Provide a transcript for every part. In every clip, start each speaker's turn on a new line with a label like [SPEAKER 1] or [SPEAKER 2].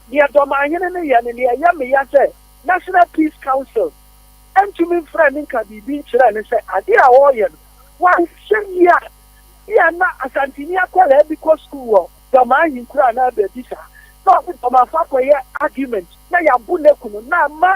[SPEAKER 1] Nea Dɔmahene no yɛ ne nea ɛyɛ me ya sɛ National Peace Council antumi mfrɛɛ no nka biribi nkyerɛɛ no sɛ ade a ɔreyɛ no wanhyɛ yie a ebia na Asanteni akwadaa bi kɔ sukuu wɔ Dɔma ahenkuro anaa baabi saa na ɔne Dɔmafo akɔyɛ argument na yɛabo no aku no na ama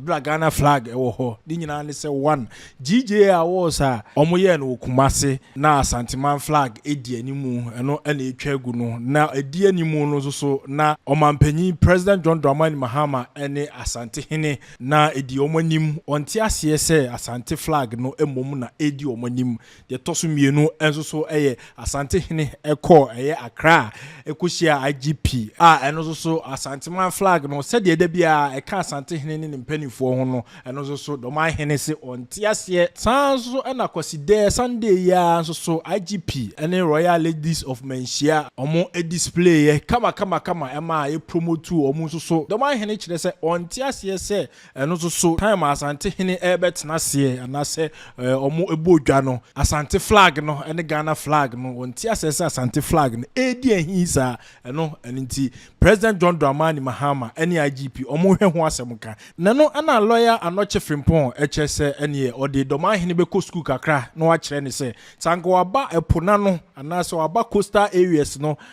[SPEAKER 2] Bere a Ghana flag wɔ hɔ, ne nyinaa ne sɛ one. GJA awards a wɔyɛɛ no wɔ Kumasi na Asanteman flag di anim, ɛno na etwa agu no. Na edi anim no nso so, na Ɔmanpanyin President John Dramani Mahama ne Asantehene na edi wɔn anim. Wɔnte aseɛ sɛ Asante flag no mmom na edi wɔn anim. Deɛ ɛtɔ so mmienu nso so yɛ Asantehene kɔɔ ɛyɛ Accra a ɛkɔhyiaa IGP a ɛno nso so Asanteman flag no sɛdeɛ da biara ɛka Asantehene ne ne mpaninfoɔ ho no ɛno nso so Dorman hene se ɔnte aseɛ. Saa nso so na Kwasidɛɛ, Sunday, yi ara nso so IGP ne Royal Ladies of Manhyia wɔn displayɛ kama kama kama ɛmaa yɛ promotuu wɔn nso so Dorman hene kyerɛ sɛ ɔnte aseɛ sɛ Ɛno nso so, time a Asante hene rebɛtena seɛ anaasɛ wɔn bɔɔ dwa no, Asante flag no ne Ghana flag no, wɔnte aseɛ sɛ Asante flag no redi ahii saa. Ɛno ɛno nti, President John Dramani Mahama ne IGP wɔn hwɛ ho asɛm ka. Na no na Lawyer Anokye Frimpong kyerɛ sɛ ɛneɛ ɔde Dɔmanhene bɛkɔ sukuu kakra na wakyerɛ no sɛ, sɛ anka waba ɛpo n'ano anaasɛ waba coastal areas no,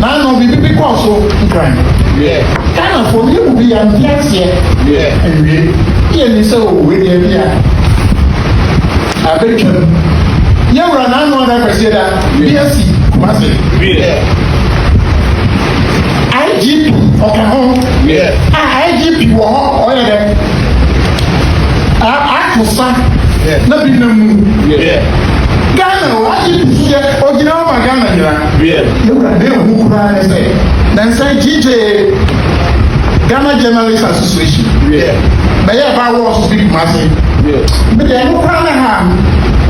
[SPEAKER 3] Naano biribi bi kɔɔ so nkran. Ghanafoɔ no yɛ mu bi yɛ nte aseɛ nwie ne yɛ nim sɛ o wei deɛ bi a abɛtwam yɛ wura naano ada kwasi da bi asi kumase IGP ɔka ho a IGP wɔ hɔ ɔyɛ dɛ akosa na bi na mu Ghana o IGP so yɛ ogyina hɔ ma Ghana nyinaa Wiɛ. Me wura dee hu koraa ne sɛ ne nsa gyigyee Ghana Journalists Association. Wiɛ. Bɛyɛɛ baa wɔ ɔso fi Kumasi. Wiɛ. Me dee ɛno koraa ne haa me.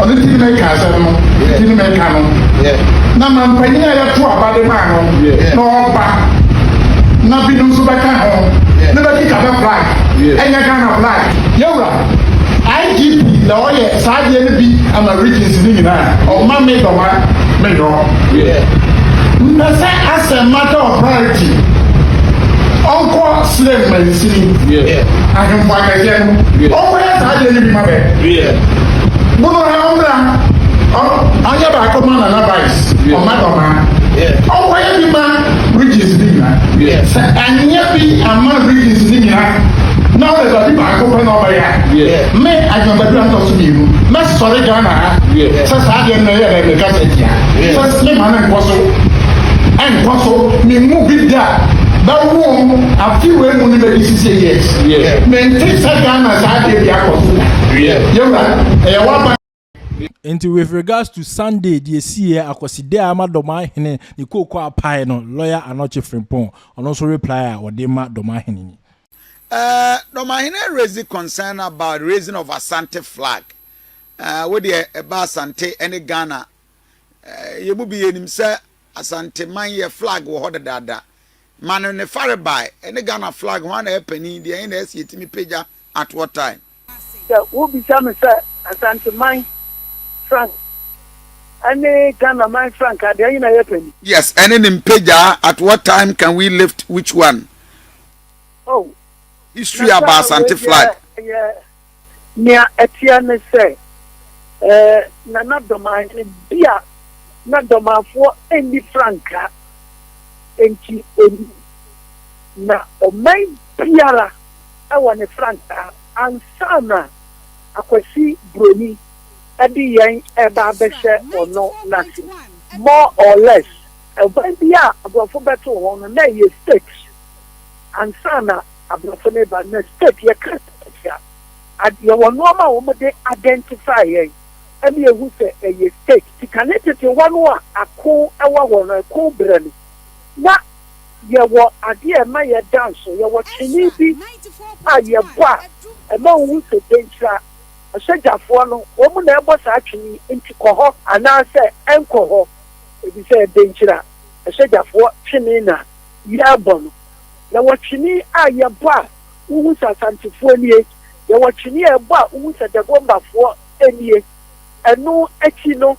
[SPEAKER 3] Ɔno ti ne me ka asɛm no. Wiɛ. Ti ne me ka no. Wiɛ. Na manpanyin a yɛto aba de maa no. Wiɛ. Na ɔba. Na binom nso bɛka ho. Wiɛ. Ne bɛkeka bɛ flag. Wiɛ. Ɛnyɛ Ghana flag. Yɛ wura. IGP na ɔyɛ saa adeɛ no bi ama regions no nyinaa ɔma me dɔma me nyɔ mpɛ sɛ asɛm mata wɔ priority ɔnkɔ slave mansini ahemfo akɛseɛ no ɔnkɔyɛ saa adeɛ no bi ma bɛ bono ha ɔmmra ɔnyɛ baako ma nana vice ɔma dɔma ɔnkɔyɛ bi ma regions no nyinaa sɛ anyɛ bi ama regions no nyinaa na ɔde baabi baako Akokɔ na ɔbɛyɛ a me Adwoa Badu a ntɔ so mmienu mɛsɔre Ghana ha sɛ saa adeɛ no na ɛyɛ dɛ me kasa tia sɛ me ma no nkɔ so ɛnkɔ so me mu bi da bɛwom afi wei mu ne bɛdi sisi years me nte sɛ Ghana saa adeɛ bi akɔ so da yɛwura ɛyɛ waba
[SPEAKER 2] Nti with regards to Sunday deɛ siiɛ Akwaside a ama Dɔmahene ne kooko apae no, Lawyer Anokye Frimpong ɔno nso reply a ɔde rema Dɔmahene ni. Eh,
[SPEAKER 4] Dɔmahene raise concern about raising of Asante flag. Eh, wo deɛ ɛba Asante ne Ghana eh, yɛn mu bi yɛnim sɛ Asante man yɛ flag wɔ hɔ dadaada. Ma no ne farebae, ɛne Ghana flag hwan na ɛyɛ panin, deɛn na ɛsi yɛtumi pagya at what time? Sɛ wobisa
[SPEAKER 1] me sɛ Asanteman frank ɛne Ghana man frank a, deɛ nyina yɛ pɛ ni. Yes, ɛne ne
[SPEAKER 4] mpagyaa, at what time can we lift which one? Oh,
[SPEAKER 1] History
[SPEAKER 4] na about saa Asante wei flag. deɛ ɛyɛ
[SPEAKER 1] nea ɛteɛ ne sɛ ɛɛ Nana Dɔmanhene bi a na Dɔmanfoɔ nni frankaa nti ɔni na ɔman biara wɔ ne frankaa ansa na Akwasi Broni de yɛn reba abɛhyɛ ɔno n'ase. More or less, ban bi a Aborɔfo bɛtoo ho no, na ɛyɛ state ansa na Aborɔfo no reba. Na state, yɛka state a, ad, yɛwɔ nnoɔma a wɔde identify yɛn ma yɛhu sɛ ɛyɛ state. Nti kane tete hɔ no a ako wɔ hɔ no, ɛko berɛ no, na. Yɛwɔ ade a ɛma yɛda nsow. Yɛwɔ trenee bi a yɛbɔ a ɛma wuhu sɛ dɛnkyira ɔhyɛgyafoɔ no, wɔn na ɛrebɔ saa twene yi, enti kɔ hɔ anaasɛ nkɔ hɔ, efisɛ dɛnkyira ɔhyɛgyafoɔ twene na yɛrebɔ no. Yɛwɔ trenee a yɛbɔ a wuhu sɛ Asantefoɔ nie. Yɛwɔ trenee a yɛbɔ a wuhu sɛ Dagombafoɔ nie. Ɛno akyi no.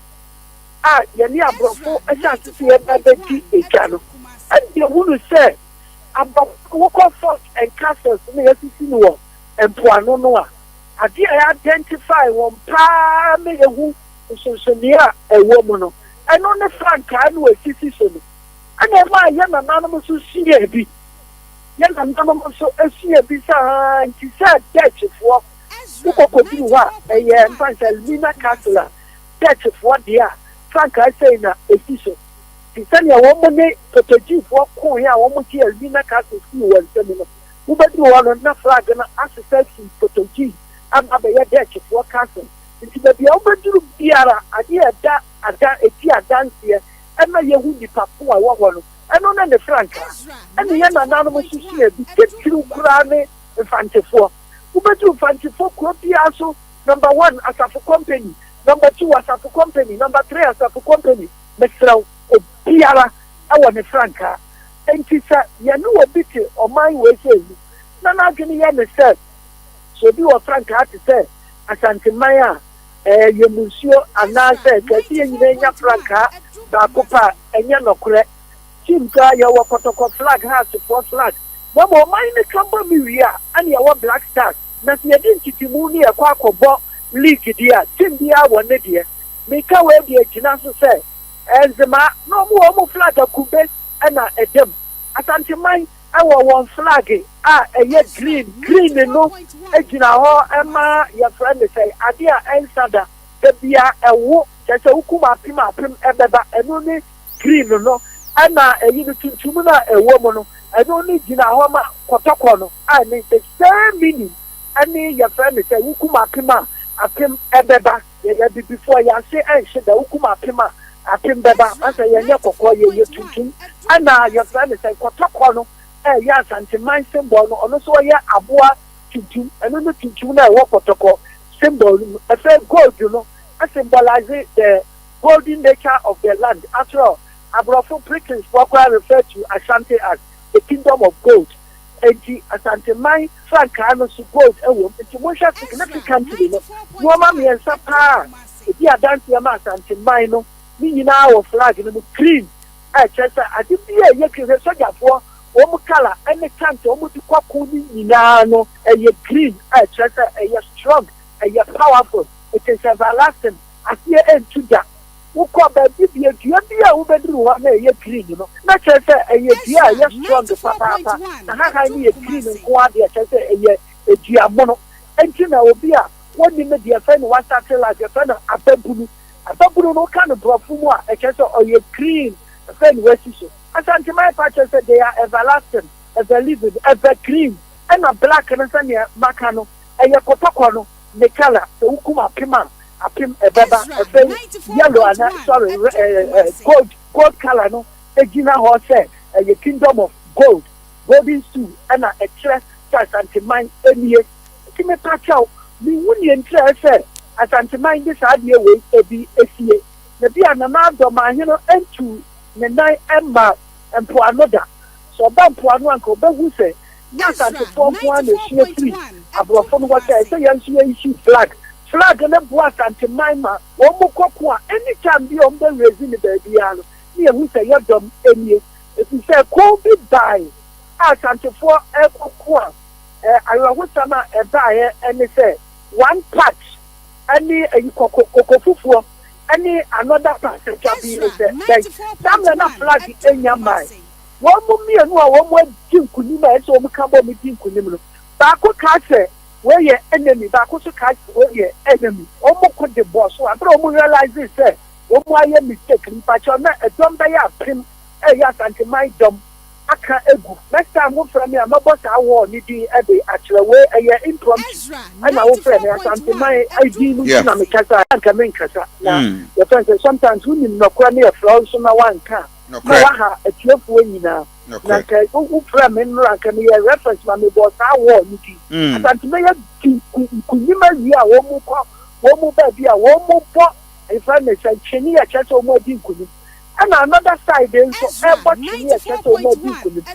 [SPEAKER 1] a yɛne aborɔfo asasesin ba bɛdi dwa no, ɛnna yɛhunu sɛ aborɔfo a wɔkɔ fort and castles na yɛasisi no wɔ mpoano no a, adeɛ a yɛidentify wɔn pa ara ma yɛhu nsonsonoeɛ a ɛwɔ mu no, ɛno ne frankaa no a ɛsisi so no. Ɛnna ɛmaa yɛn nananom nso suaa bi. Yɛn nananom nso suaa bi saa ara nti sɛ Dutchfoɔ wokɔkɔduru hɔ a, ɛyɛ mfa nsɛ Elmina Castle a Dutchfoɔ deɛ a, frankaa sei na ɛsi so, Te sɛdeɛ wɔn ne Portuguefoɔ koeɛ a wɔgyee Albina Castle fii wɔn nsam no, wobɛduru hɔ no na flag no asesa afiri Portuguese aba abɛyɛ Dutchfoɔ Castle. Nti baabi a wobɛduru biara, adeɛ a ɛda ada ɛdi adanseɛ ma yɛhu nnipa ko a ɛwɔ hɔ no, ɛno ne ne frankaa. Ɛnna yɛn nananom nso suaa bi, titiriw koraa ne Mfantefoɔ. Wobɛduru Mfantefoɔ kuro biara so, Number one asafo company number two asafo company number three asafo company mesrɛ wo obiara wɔ ne frankaa enti sɛ yɛne obi te ɔman wei sei mu na n'adwene yɛ ne sɛ sɛ obi wɔ frankaa te sɛ Asanteman a ɛɛ yɛmu nsuo anaa sɛ ɛka sɛ yɛn nyinaa nya frankaa baako pɛ a ɛnyɛ nɔkorɛ Tim koraa yɛwɔ kɔtɔkɔ flag ha asefoɔ flag na mmom ɔman no ka bɔ me wie a ɛne ɛwɔ black stars Na sɛ yɛdi ntetemu ne yɛkɔ akɔbɔ league deɛ a, team biara wɔ ne deɛ. Meka wei de agyina so sɛ, Nzemaa na wɔn wɔ wɔn flag akube na ɛda mu. Asanteman wɔ wɔn flag a ɛyɛ green, green no gyina hɔ ma yɛfrɛ no sɛn, adeɛ a ɛnsa da, da biara ɛwo, kyerɛ sɛ wokum apem a apem bɛba, ɛno ne green no, ɛna ɛyi no tuntum no a ɛwɔ mu no, ɛno no gyina hɔ ma kɔtɔkɔ no. a ne nse sɛɛ mini ɛne yɛfrɛ no sɛ wokum apem a apem ɛbɛba yɛyɛ abibifo a yɛase ɛnhye da wokum apem a apem bɛba ansɛ yɛnyɛ kɔkɔɔ yɛyɛ tuntum ɛna yɛfrɛ no sɛ kɔtɔkɔ no ɛyɛ asanteman symbol no ɔno nso ɔyɛ aboa tuntum ɛno no tuntum no a ɛwɔ kɔtɔkɔ symbol no mu ɛfɛ gold no asymbolize the golden nature of the land after all aborɔfo Britishfoɔ koraa refer to Ashanti as the kingdom of gold Enti Asanteman frankaa no so gold wom. Enti monhwɛ significantly no, nnoɔma mmiɛnsa paa a ɛdi adanseɛ ma Asanteman no, ne nyinaa wɔ flag no mu, green a ɛkyerɛ sɛ ade bi a ɛyɛ green, hwɛ sogyafoɔ wɔn colour ne tank a wɔn de kɔ ako no nyinaa no ɛyɛ green a ɛkyerɛ sɛ ɛyɛ strong, ɛyɛ powerful, it is everlasting, aseɛ ɛntu da. Wokɔ baabi bia dua bi a wobɛduru hɔ na ɛyɛ green no na kyerɛ sɛ ɛyɛ dua a ɛyɛ strong papaapa na hahan no yɛ green nko ara deɛ kyerɛ sɛ ɛyɛ dua mono nti na obi a wɔnim no deɛ ɛfɛ no wasate life yɛfɛ no ababunu ababunu no woka no borɔfo mu a ɛkyerɛ sɛ ɔyɛ green ɛfɛ no wasi so asanteman pa kyerɛ sɛ they are everlasting everliving evergreen ɛna black no sɛdeɛ maka no ɛyɛ kɔtɔkɔ no Mikala, sɛ wokum apem a, apem ɛbɛba. Ɛfɛ yi, yellow ana, sorry, gold, gold colour no gyina hɔ sɛ ɛyɛ kingdom of gold, golden stool, ɛna ɛkyerɛ sɛ Asanteman nie. Nti mepakyɛw, menhu nea nkyerɛɛ sɛ Asanteman de saa adeɛ wei bi sie. Na bia Nana Adɔ Manhene ntuu ne nan mmaa mpoano da. Sɛ ɔba mpoano a, anka obehu sɛ nyɛ Asantefoɔ nko ara na esua firi aborɔfo no hɔ. Sɛ ɛsɛ yɛn nso yɛ issue flag. Flag no boa Asante man ma wɔn kɔ ko a any time biara wɔn bɛ raise no baabiara no, na yɛhu sɛ yɛ dɔm nie. Ɛfiri sɛ ko bi bae a Asantefoɔ rekɔ ko a, awerɛhosɛm a ɛbaeɛ ne sɛ one part ne ayikɔkɔ, kɔkɔfufuo, Ɛne another passenger bi ne sɛ dɛn? Samuel na flag nya mae. Wɔn mmienu a wɔn adi nkunim a ɛsɛ wɔn ka bom di nkunim no, baako kaa sɛ wei yɛ enemy, baako nso kaa sɛ wei yɛ enemy. Wɔn ko de bɔɔ so. Abere a wɔn realisee sɛ wɔn ayɛ mistake no, mpakyɛw na ɛdɔm bɛyɛ apem ɛyɛ Asanteman dɔm aka agu. Next time mo frɛ me a mɛbɔ saa wall no din de akyerɛ. Wei ɛyɛ impromptu ɛna wo frɛ me Asanteman din no nti na me kasa a anka menkasa na yɛfrɛ no sɛ sometimes wo nim nɔkorɛ no yɛ frɛ wo nso na wanka a na waha atiefoɔ nyinaa na anka wo frɛ me mmra anka me yɛ reference ma me bɔɔ saa wall no din Asanteman yɛ di nkunim awie a wɔn mo kɔ wɔn mo baabi a wɔn mo bɔ yɛfrɛ no sɛ ntwene yɛ kyerɛ sɛ wɔn adi nkunim. ɛna another side nso ɛbɔ twene a ɛkyerɛ sɛ wɔn adi nkunim.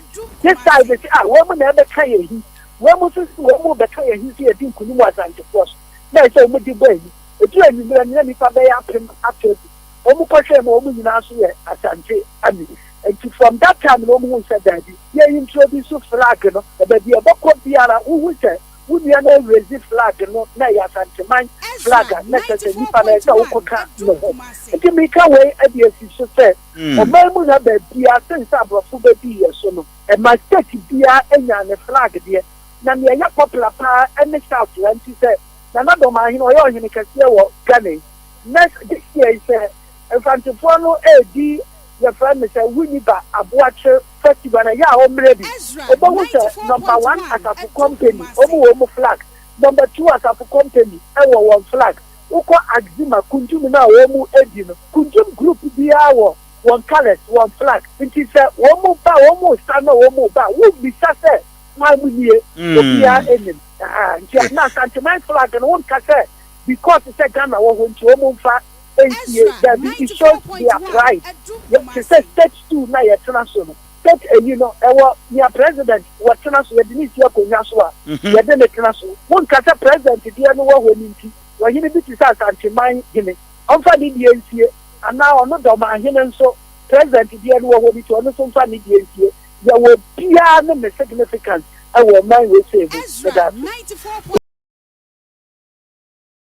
[SPEAKER 1] This side sɛ ah wɔn na ɛbɛka yɛn ahi, wɔn nso sɛ wɔn rebɛka yɛn ahi sɛ yɛdi nkunim wɔ Asantefoɔ so, na ɛsɛ wɔn de bɔ ahi. Ɛduru anwummerɛ no na nnipa bɛyɛ apem ato agu. Wɔn kɔhwɛɛ mu a wɔn nyinaa nso yɛ Asante Army. Nti from that time no wɔn hui sɛ daabi, yɛ introduce flag no na baabi a ɛbɛkɔ biara wohu sɛ Wo nua no erezi flag no na ɛyɛ Asanteman flag a na kyerɛ sɛ nnipa no ɛsɛ wokɔka ne ho. Nti meka wei de asi so sɛ ɔman mu ha baabiara sen sɛ aborɔfo bɛdi yɛ so no, ɛma state biara nyaa ne flag deɛ na nea ɛyɛ popular paa ne South ha nti sɛ Nana Dɔmahene ɔyɛ ɔhene kɛseɛ wɔ Ghana yi next this year yi sɛ Mfantefoɔ no ɛredi yɛfrɛ no sɛ Winneba Aboakyer fa si bana yɛ a ɔmmerɛ bi ɔbɛhu sɛ number one asafo company ɔmu wɔ ɔmu flag number two asafo company ɛwɔ wɔn flag wokɔ axima kunjum no a ɔmu ɛdi no kunjum group biaa wɔ wɔn colours wɔn flag nti sɛ ɔmu ba ɔmu sa na ɔmu ba wo bisa sɛ hwan mu nie obiaa ɛnim nti na asanteman flag no wo nka sɛ because sɛ Ghana wɔ hɔ nti ɔmu nfa. Entie, dabi, it shows their pride, te sɛ state stool na yɛtena so no, state eyi no, ɛwɔ nea president wɔtena so, yɛde no si akonnwa so a, yɛde no tena so. Wonka sɛ president deɛ no wɔ hɔ no nti, ɔhene bi te sɛ Asanteman hene, ɔmfa ne deɛ nsie, anaa ɔno Dorman hene nso, president deɛ no wɔ hɔ no nti, ɔno nso mfa ne deɛ nsie. Yɛwɔ obiara ne ne significance wɔ ɔman wei sei mu. Meda ase.